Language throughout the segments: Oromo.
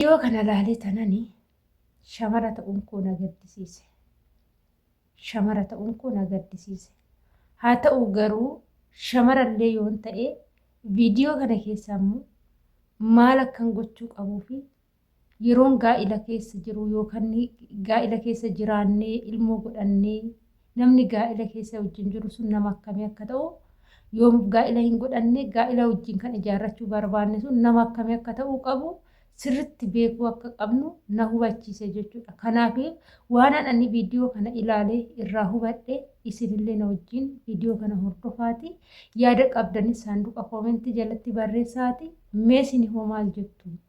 Viidiyoo kana laalee tanani shamara ta'uun koo na gaddisiise. Shamara ta'uun koo na gaddisiise. Haa ta'u garuu shamarallee yoon ta'e viidiyoo kana keessaa immoo maal akkan gochuu qabuu fi yeroon gaa'ila keessa jiru yookaan gaa'ila keessa jiraannee ilmoo godhannee Namni gaa'ila keessa wajjin jiru sun nama akkamii akka ta'u, yoomuf gaa'ila hin godhanne gaa'ila wajjin kan ijaarrachuu barbaanne sun nama akkamii akka ta'uu qabu sirritti beekuu akka qabnu na hubachiise jechuudha. Kanaaf waanan ani viidiyoo kana ilaalee irraa hubadhe isinillee na wajjin viidiyoo kana hordofaati yaada qabdanis saanduqa koomentii jalatti barreessaati mee isinihoo maal jettu?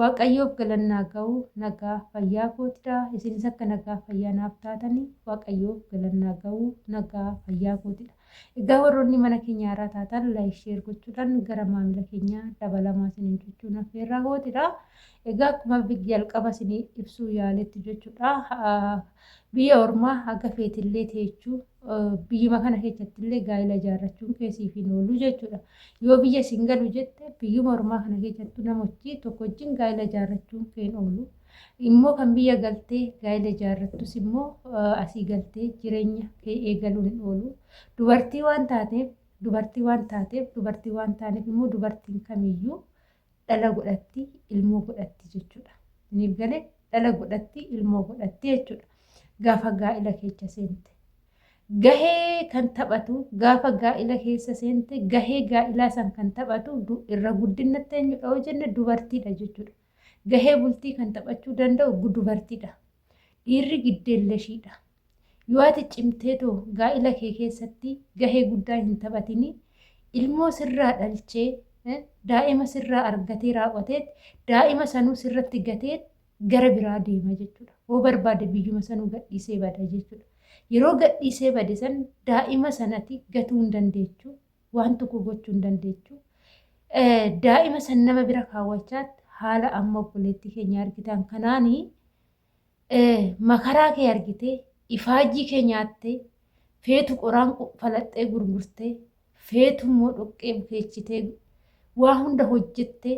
Waaqayyoof galanni haa ga'u nagaa fayyaa kootidha isinis akka nagaa fayyaa naaf taatani waaqayyoof galanni haa ga'u nagaa fayyaa kootidha egaa warroonni mana keenyaa irraa taatan laayik sheer gochuudhaan gara maamila keenyaa dabalamaa isiniin jechuun affeerraa kootidha egaa akkuma jalqaba isinii ibsuu yaaletti jechuudha biyya ormaa haga feetillee teechuu biyyuma kana keessatti illee gaa'ila ijaarrachuun kee siif hin oolu jechuudha. Yoo biyya isin galu jette biyyuma ormaa kana keessattu namochi tokko wajjin gaa'ila ijaarrachuun kee hin oolu. Immoo kan biyya galtee gaa'ila ijaarrattus immoo asii galtee jireenya kee eegaluun hin oolu. Dubartii waan taateef dubartii waan taateef dubartii waan taaneef immoo dubartiin kamiyyuu dhala godhatti ilmoo godhatti jechuudha. Isiniif galee dhala godhatti ilmoo godhatti jechuudha. Gaafa gaa'ila keessa seente. Gahee kan taphatu gaafa gaa'ila keessa seente gahee gaa'ilaa san kan taphatu irra guddinatti eenyudha yoo jenne dubartiidha jechuudha. Gahee bultii kan taphachuu danda'u dubartiidha. Dhiirri giddeelleshiidha. Yoo ati cimteetoo gaa'ila kee keessatti gahee guddaa hin taphatini, ilmoo sirraa dhalchee, daa'ima sirraa argatee raawwateet, daa'ima sanuu sirratti gateet gara biraa deema jechuudha. Hoo barbaade biyyuma sanuu gadhiisee bada jechuudha. Yeroo gadhiisee bade san daa'ima sanati gatuu hin dandeechu. waan tokko gochuu hin dandeechu. Daa'ima san nama bira kaawwachaatti haala amma obboleettii keenya argitan kanaani makaraa kee argitee ifaajii kee nyaattee feetu qoraan falaxxee gurgurtee feetu immoo dhoqqee bukeechitee waa hunda hojjettee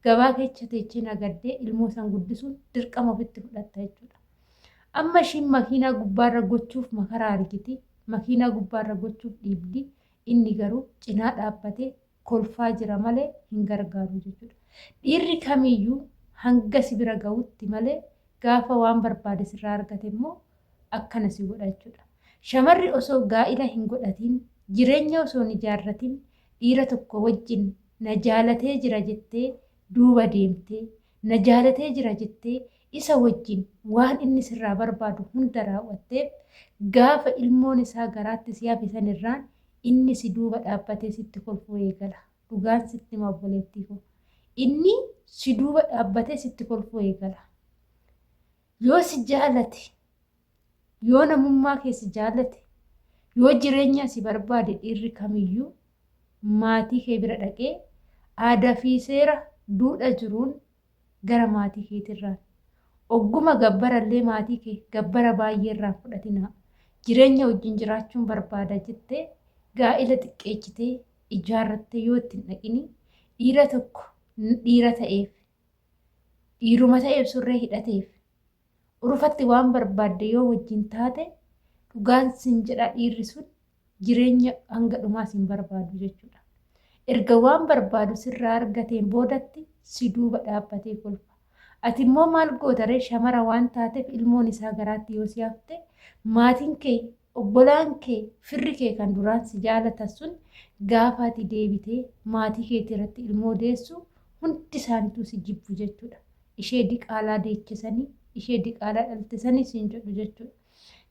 gabaa keessa teechee nagaddee ilmoo san guddisuun dirqama ofitti fudhatta jechuudha. Amma ishiin makiinaa gubbaarra gochuuf makara argiti, makiinaa gubbaarra gochuuf dhiibdi, inni garuu cinaa dhaabbatee kolfaa jira malee hin gargaaru jechuudha. Dhiirri kamiyyuu hanga si bira ga'utti malee gaafa waan barbaade sirraa argate immoo akkana si godha jechuudha. Shamarri osoo gaa'ila hin godhatiin, jireenya osoo hin ijaarratiin dhiira tokko wajjin na jaalatee jira jettee duuba deemtee na jaalatee jira jettee isa wajjin waan inni sirraa barbaadu hunda raaw'atteef, gaafa ilmoon isaa garaatti si hafe sanirraan inni si duuba dhaabbatee sitti kolfuu eegala. Dhugaan sitti hima obboleettii koo. Inni si duuba dhaabbatee sitti kolfuu eegala. Yoo si jaalate Yoo namummaa kee si jaallate, yoo jireenyaa si barbaade dhiirri kamiyyuu maatii kee bira dhaqee aadaa fi seera duudha jiruun gara maatii keetirraan ogguma gabbara illee maatii kee gabbara baay'ee irraan fudhatinaa jireenya wajjin jiraachuun barbaada jettee gaa'ila xiqqeechitee ijaarrattee yoo ittiin dhaqini dhiira tokko dhiira ta'eef dhiiruma ta'eef surree hidhateef Urufatti waan barbaadde yoo wajjin taate dhugaan sin jedha dhiirri sun jireenya hanga dhumaa sin barbaadu jechuudha. Erga waan barbaadu sirraa argateen boodatti si duuba dhaabbatee kolfa. Ati immoo maal gootaree shamara waan taateef ilmoon isaa garaatti yoo si hafte maatiin kee obbolaan kee firri kee kan duraan si jaalatan sun gaafa ati deebitee maatii keetii irratti ilmoo deessu hundi isaanituu si jibbu jechuudha. ishee diqaalaa deeche sanii, ishee diqaalaa dhalte sanii siin jedhu jechuudha.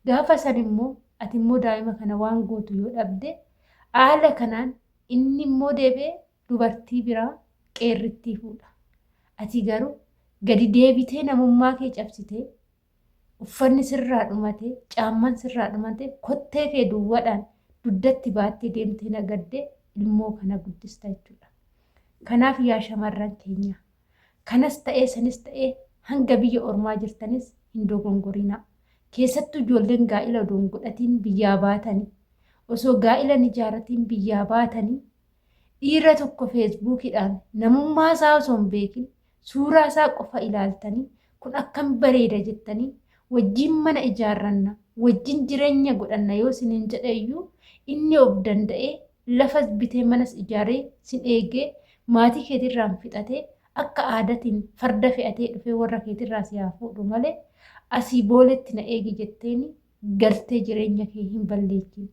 Gaafa san immoo ati immoo daa'ima kana waan gootu yoo dhabde haala kanaan inni immoo deebi'ee dubartii biraa qeerrittii fuudha. Ati garuu gadi deebitee namummaa kee cabsitee uffanni sirraa dhumate, caamman sirraa dhumate, kottee kee duwwadhaan duddatti baattee deemtee nagadde ilmoo kana guddista jechuudha. Kanaaf yaa shamarran keenya kanas ta'ee sanis ta'ee hanga biyya ormaa jirtanis hin dogongorinaa. Keessattuu ijoolleen gaa'ila odoo hin godhatiin biyyaa baatanii osoo gaa'ila hin ijaaratiin biyyaa baatanii dhiira tokko feesbuukidhaan namummaa isaa osoo hin beekin Suuraa isaa qofa ilaaltanii kun akkam bareeda jettanii wajjin mana ijaarranna, wajjin jireenya godhanna yoo siniin jedhe iyyuu inni of danda'ee lafas bitee manas ijaaree sin eegee maatii keetirraan fixatee akka aadatiin farda fe'atee dhufee warra keetirraa si haa fuudhu malee asii booletti na eegi jetteeni galtee jireenya kee hin balleessiin.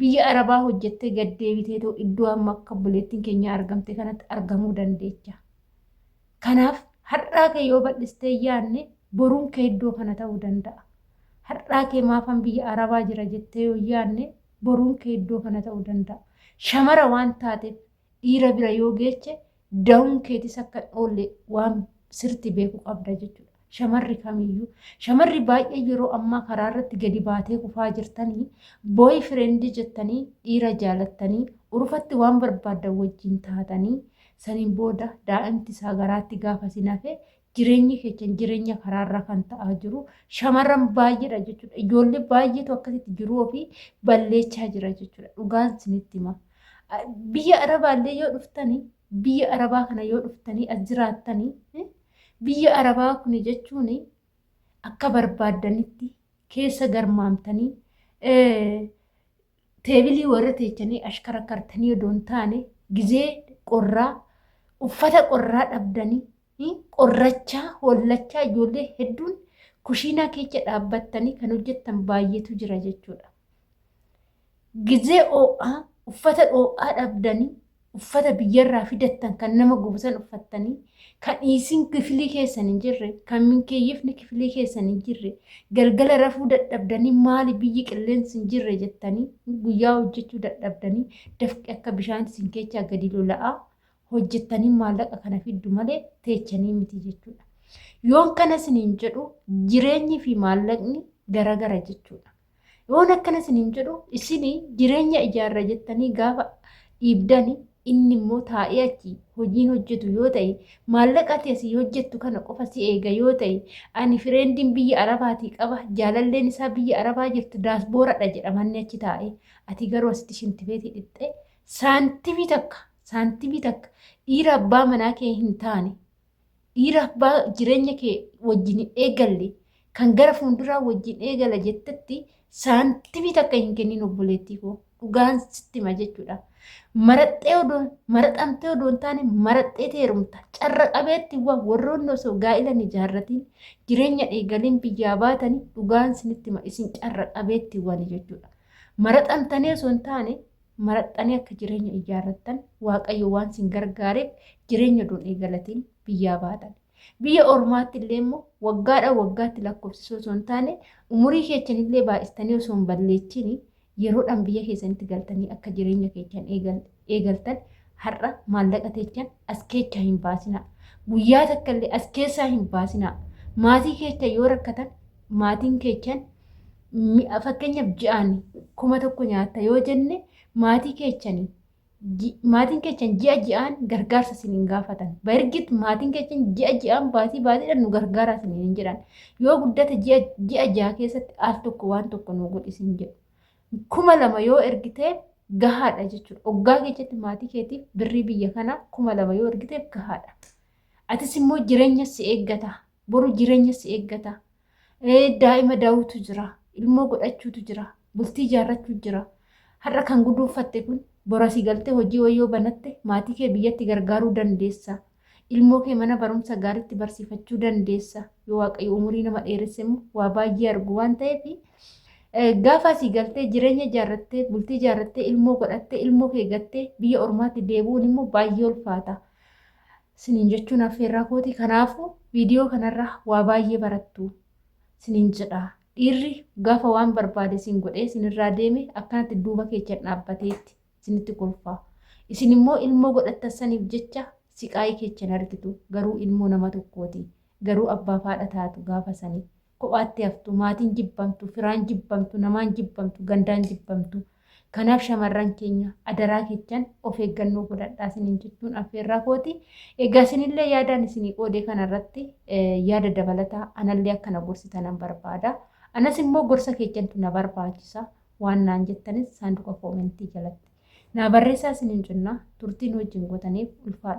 Biyya Arabaa hojjettee gad deebiteetoo iddoo amma akka obboleettiin keenyaa argamte kanatti argamuu dandeecha. Kanaaf har'aa kee yoo bal'istee yaadne boruun kee iddoo kana ta'uu danda'a. Har'aa kee maafan biyya Arabaa jira jettee yoo yaadne boruun kee iddoo kana ta'uu danda'a. Shamara waan taateef dhiira bira yoo geeche da'uun keetis akka hin oolle waan sirti beeku qabda jechuudha. Shamarri kamiyyuu shamarri baay'ee yeroo ammaa karaa irratti gadi baatee kufaa jirtanii booy fireendii jettanii dhiira jaalattanii urufatti waan barbaaddan wajjin taatanii saniin booda daa'imti isaa garaatti gaafa sin hafe Jireenyi keessan jireenya karaarraa kan ta'aa jiru shamarran baay'eedha jechuudha. Ijoollee baay'eetu akkasitti jiruu ofii balleessaa jira jechuudha. Dhugaan isinitti hima. Biyya Arabaallee yoo dhuftanii biyya Arabaa kana yoo dhuftanii as jiraattanii biyya Arabaa kun jechuun akka barbaaddanitti keessa garmaamtanii Teebilii warra teechanii ashkarakkartanii odoo hin taane gizee qorraa uffata qorraa dhabdanii hi, qorrachaa hollachaa ijoollee hedduun kushiinaa keecha dhaabbattanii kan hojjettan baay'eetu jira jechuudha. Gizee oo'aa uffata dhoo'aa dhabdanii uffata biyyarraa fidattan kan nama gubu san uffattanii kan isin kifilii keessan hin jirre kan minkeeyyifni kifilii keessan hin jirre galgala rafuu dadhabdanii maali biyyi qilleensi hin jirre jettanii guyyaa hojjechuu dadhabdanii dafqi akka bishaan isin keechaa gadi lola'aa hojjettanii maallaqa kana fiddu malee teechanii miti jechuudha. Yoon kana isiniin jedhu jireenyi fi maallaqni garagara jechuudha. Yoon akkana isiniin jedhu isin jireenya ijaarra jettanii gaafa dhiibdani inni immoo taa'ee achi hojiin hojjetu yoo ta'e maallaqa ati asii hojjettu kana qofa si eega yoo ta'e ani fireendiin biyya arabaatii qaba jaalalleen isaa biyya arabaa jirtu daasbooradha jedhamanni achi taa'e ati garuu asitti shintifeetii dhixxee saantimii takka saantimii takka dhiira abbaa manaa kee hin taane dhiira abbaa jireenya kee wajjin hin eegalle kan gara fuulduraa wajjin eegala jettetti saantimii takka hin kennin obboleettii koo dhugaan sitti hima jechuudha. Maraxxee odoo maraxamtee odoo hin taane maraxxee teerumta carra qabeetti waan warroonni osoo gaa'ila hin ijaarratiin jireenya eegaliin biyyaa baatanii dhugaan sinitti hima isin carra qabeetti waan jechuudha. Maraxamtanii osoo hin taane marattanii akka jireenya ijaarrattan waaqayyo waan sin gargaareef jireenya duun eegalatiin biyyaa baatan. Biyya ormaatti illee immoo waggaadhaan waggaatti lakkoofsisuu osoo hin taane umurii keessan illee baay'istanii osoo hin balleechiin yeroodhaan biyya keessanitti galtanii akka jireenya keessan eegaltan har'a maallaqa teechan as keechaa hin baasinaa. Guyyaa takka illee as keessaa hin baasinaa. Maatii keechan yoo rakkatan maatiin keechan mi'a fakkeenyaaf ji'aan kuma tokko nyaatta yoo jenne maatii keechanii ji- maatiin keechan ji'a ji'aan gargaarsa isin hin gaafatan. Bargit maatiin keechan ji'a ji'aan baatii baatiidhaan nu gargaaraa isin hin jedhan. Yoo guddate ji'a ji'a ji'a keessatti al tokko waan tokko nu godhi isin jedhu. Kuma lama yoo ergiteef gahaadha jechuudha. Oggaa keessatti maatii keetiif birrii biyya kanaa kuma lama yoo ergiteef gahaadha. Atis immoo jireenya si eeggata. Boru jireenya si eeggata. Daa'ima daawutu jira. Ilmoo godhachuutu jira. Bultii ijaarrachuu jira. Har'a kan guduunfatte kun bora si galtee hojii wayyoo banatte maatii kee biyyatti gargaaruu dandeessa. Ilmoo kee mana barumsa gaariitti barsiifachuu dandeessa. Yoo waaqayyo umurii nama dheeresse immoo waa baay'ee argu waan ta'eef gaafa asii galtee jireenya ijaarrattee bultii ijaarrattee ilmoo godhattee ilmoo kee gattee biyya ormaatti deebi'uun immoo baay'ee ulfaata. sinin jechuun affeerraa kooti kanaafu viidiyoo kanarraa waa baay'ee barattu sinin jedha dhiirri gaafa waan barbaade sin godhee sinirraa deeme akkanatti duuba keechan dhaabbateetti sinitti kolfaa isin immoo ilmoo godhattan saniif jecha siqaayii keechan argitu garuu ilmoo nama tokkooti garuu abbaa faadha taatu gaafa sanii kophaatti haftu, maatiin jibbamtu, firaan jibbamtu, namaan jibbamtu, gandaan jibbamtu. Kanaaf shamarran keenya adaraa kechan of eeggannoo godhadhaa isiniin jechuun affeerraa kooti. Egaa isinillee yaadaan isinii qoodee kanarratti yaada dabalataa anallee akkana gorsitan nan barbaada. Anas immoo gorsa kechantu na barbaachisa waan naan jettanis saanduqa koomentii jalatti. Naa barreessaa isiniin jenna turtiin wajjin gootaniif ulfaadha.